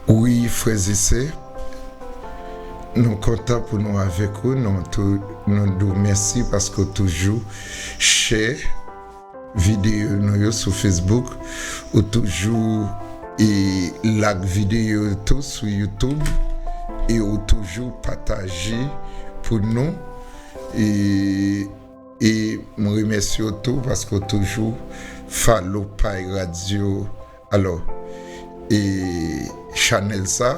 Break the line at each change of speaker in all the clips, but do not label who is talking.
Wi frèzesè Nou kontan pou Nou avèk ou Nou di w mèsi paske ou toujou chè videyo Nou yo sou Facebook ou toujou e lak videyo tou sou YouTube e ou toujou pataje pou Nou e m remèsye w tou paske ou toujou follow pay radio Alò e chanèl sa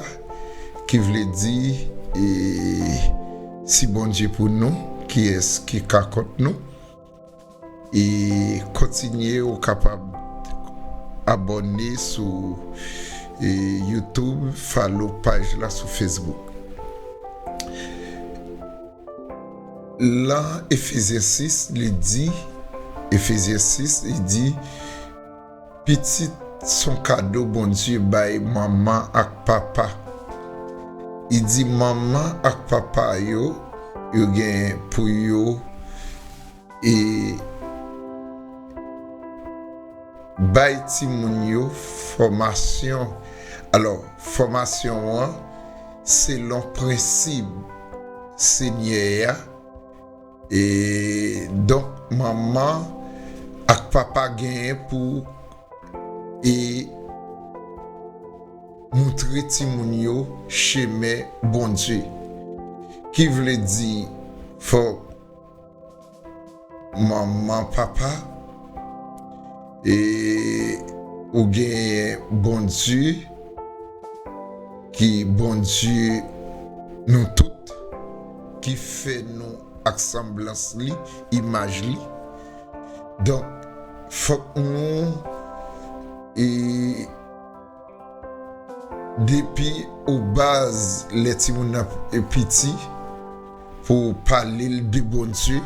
ki vle di e si Bondye pou nou kiyès ki ka kont nou e kontinye ou kapab abòne sou e youtube follow paj la sou facebook. Lan efezyen 6 li di efezyen 6 li di. Pitit son kado Bondye bay manman ak papa. Li di manman ak papa yo, yo gen pou yo e bay timoun yo fòmasyon. Alò, fòmasyon an selon prensib Senyè a. E donk manman ak papa genyen pou e moutre timoun yo chemen Bondye. Ki vle di fòk manman papa e ou genyen Bondye ki Bondye nou tout. Ki fè nou ak sanblans li, imaj li. Donk, fòk nou e. Depi o baz lè timoun nan piti, pou ou pale l de Bondye,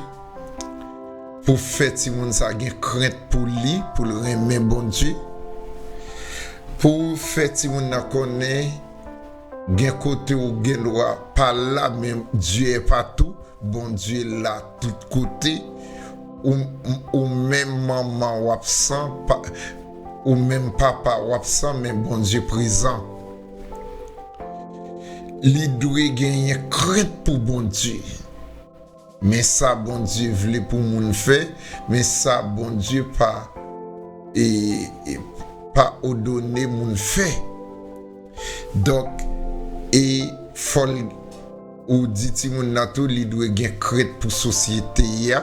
pou w fè timoun sa gen krent pou li, pou l renmen Bondye, pou w fè timoun nan konnen. Gen kote ou gen dwa pa la men Dieu est partout, Bondye la tout kote, ou menm manman ou absan, ou menm papa ou absan men Bondye prezan. Li dwe genyen krent pou Bondye. Men sa Bondye vle pou moun fè, men sa Bondye pa e pa odone moun fè. Donk e fòl ou di timoun nan tou li dwe gen krent pou sosyete a.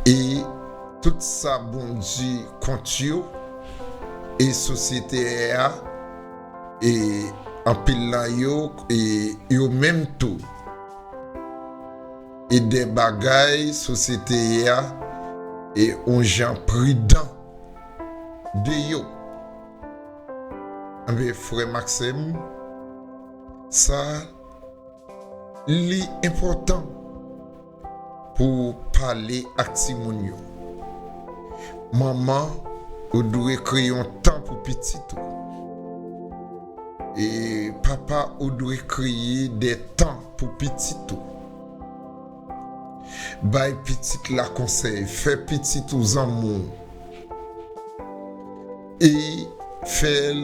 E tout sa Bondye kont yo, e sosyete a, e anpil nan yo, e yo menm tou, e de bagay sosyete a, e yon jan pridan de yo. Enben, frè m ak sè m, sa li enpòtan. Pou w pale ak timoun yo. Manman, ou dwe kreye yon tan pou pitit ou. E papa, ou dwe kreye de tan pou pitit ou. Bay pitit la konsèy, fè pitit ou zanmi w e fè l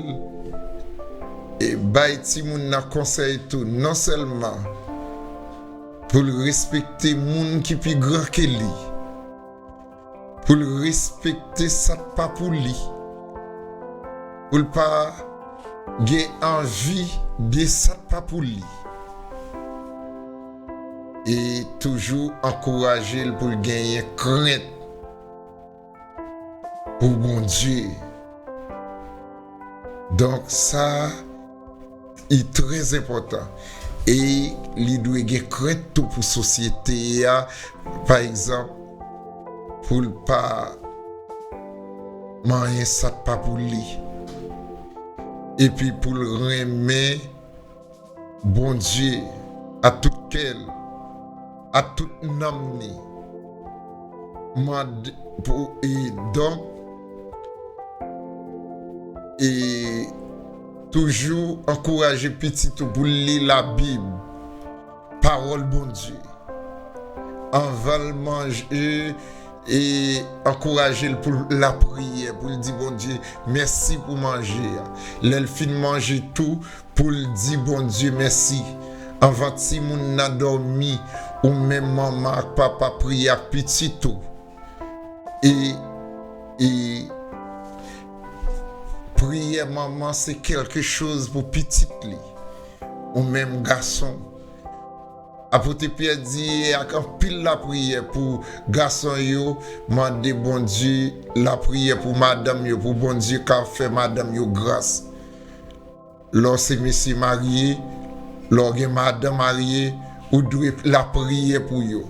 bay timoun nan konsèy tou. Non sèlman. Pou l respekte moun ki pi gran ke li. Pou l respekte sa k pa pou li. Pou l pa gen anvi de sa k pa pou li. E toujou ankouraje l pou l genyen krent. pou Bondye. Donk sa li trè enpòtan e li dwe gen krent tou pou sosyete a pa egzanp pou l pa manyen sa k pa pou li epi pou l renmen. Bondye, ak tout kè l, ak tout nanm li, mande pou e don, e toujou ankouraje pitit ou pou l li Labib, Pawòl Bondye, anvan l manje, e ankouraje l pou l lapriyè, pou l di Bondye mèsi pou manje a, lè l fin manje tou. Poul di Bondye mèsi. Anvan timoun nan dòmi ou menm manman ak papa priye ak pitit ou e e priyè manman se kèlke choz pou pitit li ou menm gason Apote Pyè di e ak anpil lapriyè pou gason yo mande Bondye lapriyè pou madanm yo pou Bondye ka fè madanm yo gras. Lè w se mesye marye, lè w gen madan marye, ou dwe lapriyè pou yo.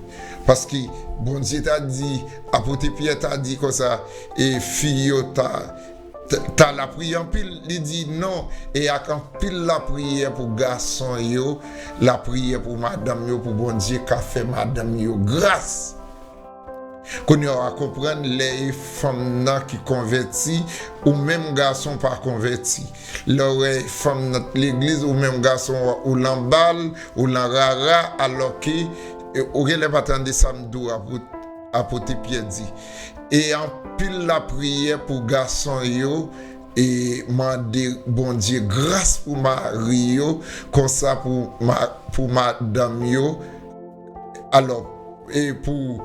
Paske, Bondye ta di, apote Pyè ta di konsa, e fi yo ta lapriyè anpil. Li di, non, e ak anpil lapriyè pou gason yo, lapriyè pou madanm yo, pou Bondye ka fè madanm yo gras. Kounya wa konprann lè e fanm nan ki konvèti ou menm gason pa konvèti lè ou wè e fanm nan t legliz ou menm gason wa ou lan bal ou lan rara alò ke ou genlè pa tande sa Mdou apote pyè di e anpil lapriyè pou gason yo e mande Bondye gras pou mari yo konsa pou madanm yo Alò, e pou,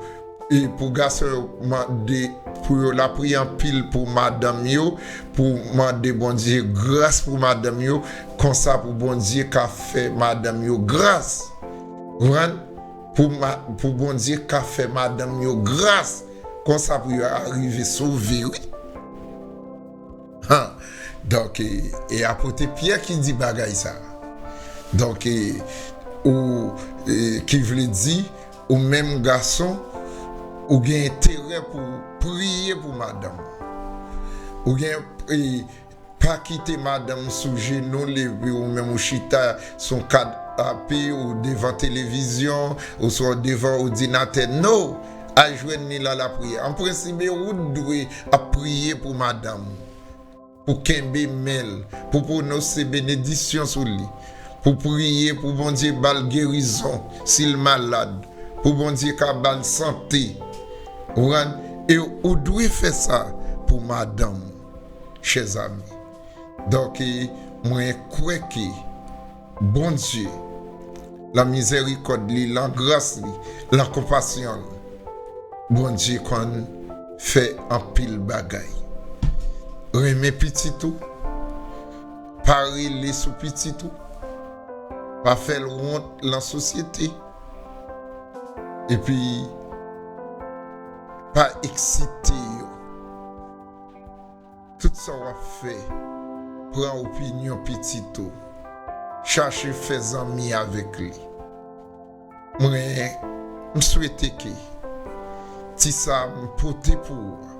e pou gason yo mande pou yo lapriyè anpil pou madanm yo, pou mande Bondye gras pou madanm yo, konsa pou Bondye ka fè madanm yo gras. Konprann? Pou ma, pou Bondye ka fè madanm yo gras, konsa pou yo arive sove wi. Han! Donk, e apote Pyè ki di bagay sa a. Donk, ou, ki vle di, ou menm gason, ou gen enterè pou ou priye pou madanm ou. Ou gen, e, pa kite madanm ou sou jenou l epi ou menm ou chita sou yon kanape ou devan televizyon oswa ou devan odinatè. No! al jwenn li la la priye an prensibe ou t dwe ap priye pou madanm ou pou kenbe menl pou pwonose benedisyon sou li pou priye pou Bondye bal gerizon sil malad pou Bondye ka bal sante wran e ou dwe fè sa pou madanm ou chèzami donk mwen kwè ke. Bondye, lan mizerikòd li, lan gras li, lan konpasyon l, Bondye konn fè anpil bagay. Renmen pitit ou, pa rele sou pitit ou, pa fè l wont lan sosyete, epi pa eksite yo. Tout sa w ap fè, pran opinyon pitit ou, chache fè zanmi avèk li. Mwen, m swete ke ti sa m pote pou ou a,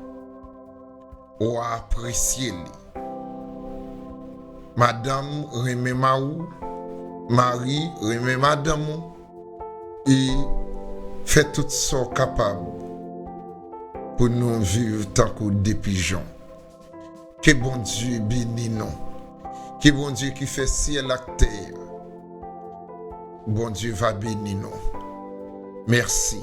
w a apresye li. Madanm, renmen mari w, mari, renmen madanm ou. E fè tout sa w kapab pou nou viv tankou de pijon. Ke Bondye beni nou. Ke Bondye ki fè syèl ak tè a, Bondye va beni nou. Mèsi.